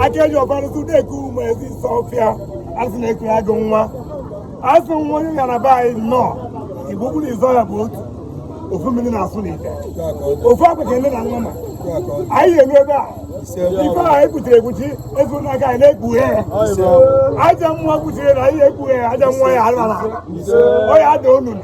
akeji ọbarụsị deke ụmụ ezi sọfịa asị na-ekere agụ nwa asị nwa onye gara be anyị nnọọ igbo kwuru izọ ya bụ otu ofu mmiri na-asụ n'ite ofu akwa ka ele na nwa ma anyị eru ebe a ife e kpuchiri ekpuchi ezuola ka anyị na-ekpughe ya ajọ mmụọ kpuchiri na anyị ekpughe ya ajọ mmụọ ya ala na ọya ada onunu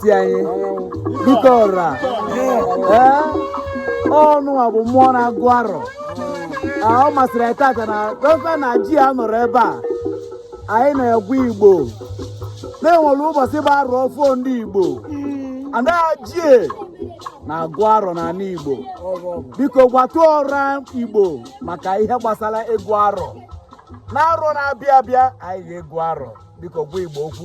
ti anyị dike ọra ee ọnụ a bụ mmụọ na-agụ arọ a ọ masịrị anyị tata na dọkịta na ji ya nọrọ ebe a anyị na-agwa igbo na e nwere ụbọchị bụ arọ ọfụụ ndị igbo a na-eji ya na-agụ arọ n'ala igbo biko gwatụ ọra igbo maka ihe gbasara ịgụ arọ na arọ na-abịa abịa anyị ga-agụ arọ biko gwa igbo okwu